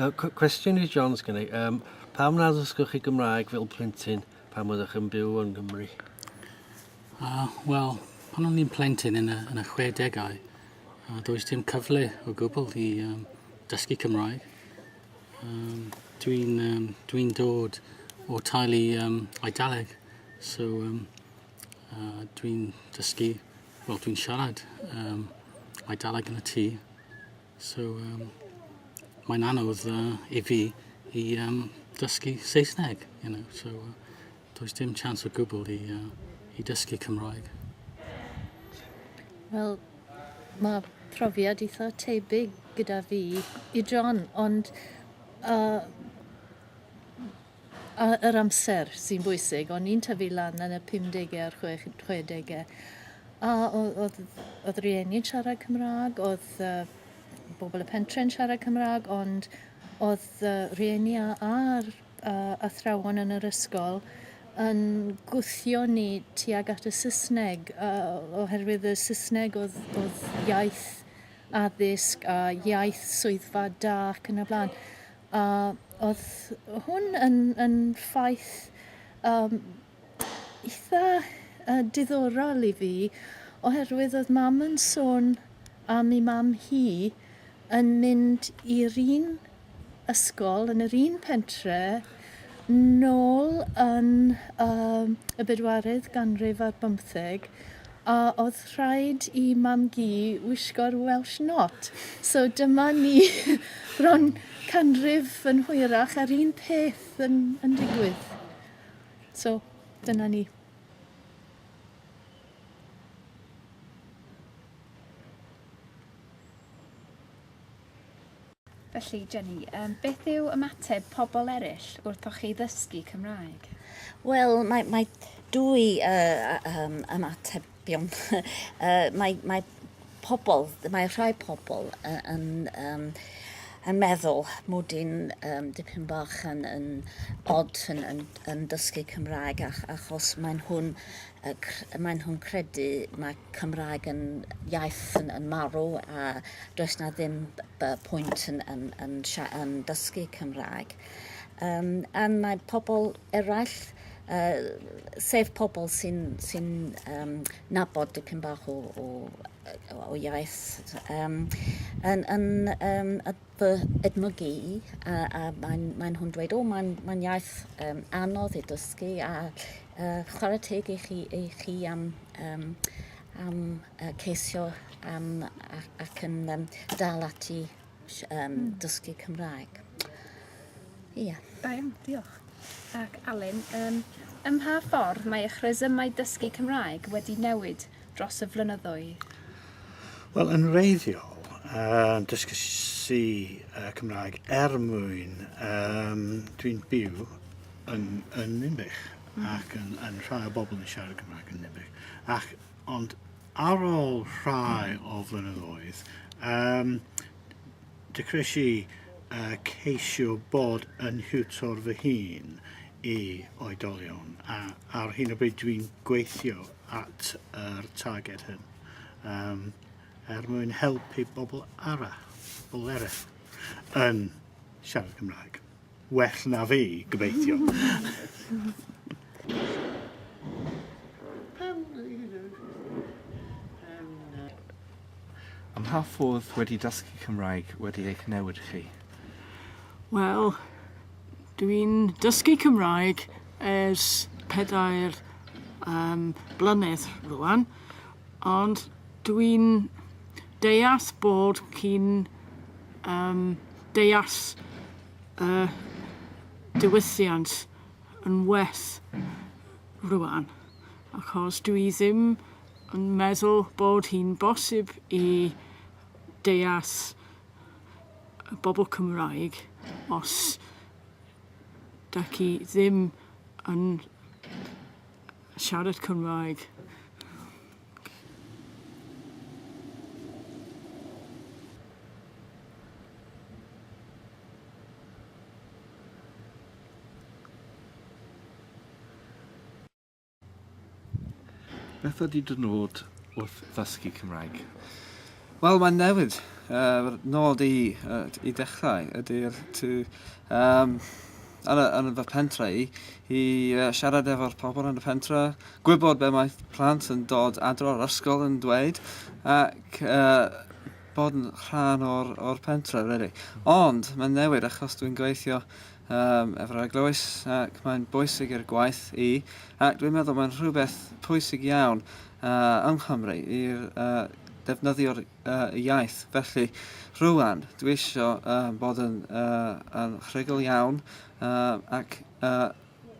Cwestiwn i John sgynna i. Um, pam na ddysgwch chi Gymraeg fel plentyn pan oeddech yn byw yn Gymru? Uh, Wel, pan o'n i'n plentyn yn y, yn y 60au, uh, does dim cyfle o gwbl i um, dysgu Cymraeg. Um, Dwi'n um, dwi dod o talu um, Eidaleg, so um, uh, dwi'n dysgu, wel dwi'n siarad um, Eidaleg yn y tŷ. So um, mae'n anodd uh, i fi i um, dysgu Saesneg, you know, so uh, does dim chance o gwbl i, uh, i dysgu Cymraeg. Wel, mae profiad eitha tebyg gyda fi i John, ond uh, A yr amser sy'n bwysig. O'n i'n tyfu lan yn y pumdege a'r chwech- chwedege a o- o'dd o'dd rieni'n siarad Cymra'g o'dd yy bobol y pentre'n siarad Cymra'g ond o'dd yy rieni a a'r yy athrawon yn yr ysgol yn gwthio ni tuag at y Sysneg yy o- oherwydd y Sysneg o'dd o'dd iaith addysg a iaith swyddfa da ac yn y bla'n. A oedd hwn yn yn ffaith yym eitha yy diddorol i fi oherwydd oedd mam yn sôn am ei mam hi yn mynd i'r un ysgol yn yr un pentre nôl yn yym y bedwaredd ganrif ar bymtheg a oedd rhaid i mam-gu wisgo'r Welsh Not. So dyma ni bron canrif yn hwyrach a'r un peth yn, yn digwydd. So, dyna ni. Felly, Jenny, um, beth yw ymateb pobl eraill wrthoch chi ddysgu Cymraeg? Wel, mae, mae dwy uh, um, ymatebion. uh, mae, mae pobl, mae rhai pobl yn, um, yn meddwl mod i'n um, dipyn bach yn, yn odd yn, yn, yn dysgu Cymraeg ach, achos maen nhw'n uh, maen nhw'n credu mae Cymraeg yn iaith yn yn marw a does 'na ddim b- b- pwynt yn yn yn sia- yn dysgu Cymraeg. Yym a mae pobl eraill yy sef pobl sy'n sy'n yym nabod dipyn bach o o yy o iaith yym yn yn yym y fy edmygu i, a, a mae'n mae nhw'n dweud, o, mae'n mae iaith um, anodd i dysgu, a uh, chwarae teg i chi, i chi am, um, am uh, ceisio am, ac, ac yn um, dal ati um, dysgu Cymraeg. Ia. Yeah. Da iawn, diolch. Ac Alun, um, ym mha ffordd mae eich resymau dysgu Cymraeg wedi newid dros y flynyddoedd? Wel, yn reiddiol, uh, dysgu si uh, Cymraeg er mwyn um, dwi'n byw yn, yn Nimbych mm. ac yn, yn rhai o bobl yn siarad Cymraeg yn Nimbych. Ac, ond ar ôl rhai o flynyddoedd, um, dechreuais i uh, ceisio bod yn hiwtor fy hun i oedolion. A, ar hyn o bryd dwi'n gweithio at yr targed hyn um, er mwyn helpu bobl arall, bobl eraill yn siarad Cymraeg. Well na fi, gobeithio. Am pa ffordd wedi dysgu Cymraeg wedi eich newid chi? Wel, Dwi'n dysgu Cymraeg ers pedair yym blynedd rŵan ond dwi'n deall bod chi'n yym deall y diwylliant yn well rŵan achos dwi ddim yn meddwl bod hi'n bosib i deall y bobl Cymraeg os da chi ddim yn siarad Cymraeg. Beth ydy dy nod wrth ddysgu Cymraeg? Wel, mae'n newid. Uh, fy nod i, uh, i dechrau ydy'r to... Um, yn, yn fy pentre i, i uh, siarad efo'r pobl yn y pentre, gwybod be mae plant yn dod adro o'r ysgol yn dweud, ac uh, bod yn rhan o'r, or pentre, really. Ond mae'n newid achos dwi'n gweithio Yym, efo'r eglwys, ac mae'n bwysig i'r gwaith i, ac dwi'n meddwl mae'n rhywbeth pwysig iawn uh, yng Nghymru i'r uh, defnyddio'r uh, iaith. Felly, rwan, dwi eisiau uh, bod yn, uh, yn rhugl iawn uh, ac uh,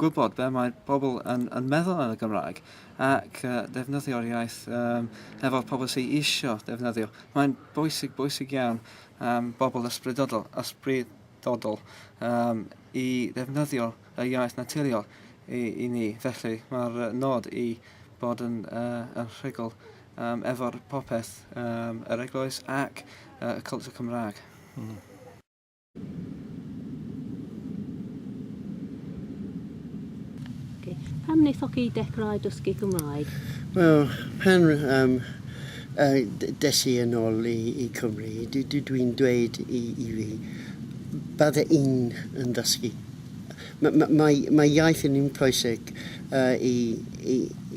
gwybod be mae pobl yn, yn meddwl yn y Gymraeg ac uh, defnyddio'r iaith um, efo'r pobl sy'n eisiau defnyddio. Mae'n bwysig, bwysig iawn am um, bobl ysbrydodol, ysbryd, dyfodol um, i ddefnyddio y iaith naturiol i, i ni. Felly mae'r nod i bod yn, uh, yn rhugl um, efo'r popeth, um, yr eglwys ac uh, y cultwr Cymraeg. Mm. Okay. Pam wnaethoch chi dechrau dysgu Cymraeg? Wel, pen um, Des i yn ol i Cymru, dw i'n dweud i fi, bydde i'n yn ddysgu. Mae iaith yn un pwysig i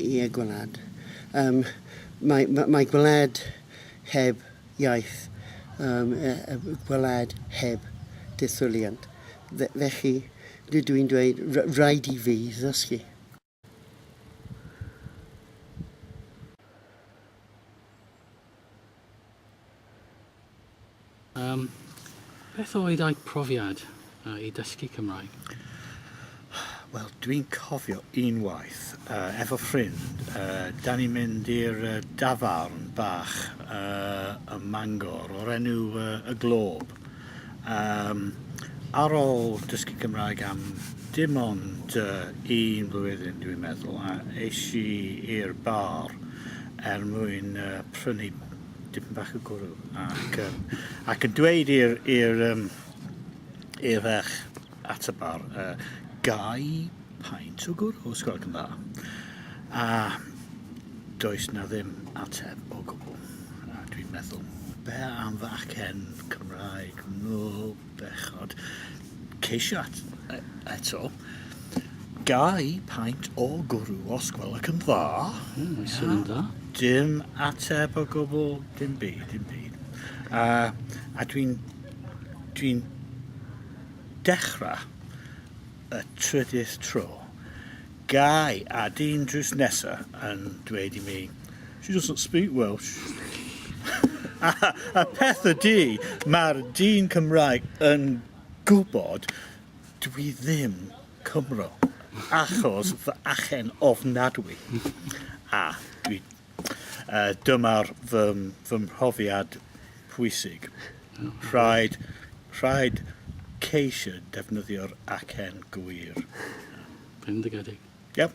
y gwlad. Mae gwlad heb iaith, gwlad heb dethwliant. Felly, dw i'n dweud, rhaid i fi ddysgu. Um, beth oedd eich profiad uh, i dysgu Cymraeg? Wel, dwi'n cofio unwaith, uh, efo ffrind, uh, da ni'n mynd i'r uh, dafarn bach uh, ym Mangor o'r enw uh, Y Glob. Yym, ar ôl dysgu Cymraeg am dim ond yy un flwyddyn dwi'n meddwl a es i i'r bar er mwyn yy prynu dipyn bach o gwrw ac yym ac yn dweud i'r i'r yym i'r ferch at y bar a gau paent o gwrw, os gwelwch yn dda. A does na ddim ateb o gwbl. A dwi'n meddwl, be am fy acen Cymraeg nôl bechod? Ceisiat e- eto. Gau paent o gwrw, os gwelwch yn dda. Mm, mae'n swnio'n A dda. Dim ateb o gwbl, dim byd, dim byd. A, a dwi'n, dwi'n Dechrau y trydydd tro, Guy a dyn drws nesa yn dweud i mi, She doesn't speak Welsh. a, a peth ydy, mae'r dyn Cymraeg yn gwybod dwi ddim Cymro, achos fy achen ofnadwy, a dwi Uh, dyma'r fy, fy mhrofiad pwysig. Rhaid, rhaid ceisio defnyddio'r acen gwir. Bendigedig. Yep.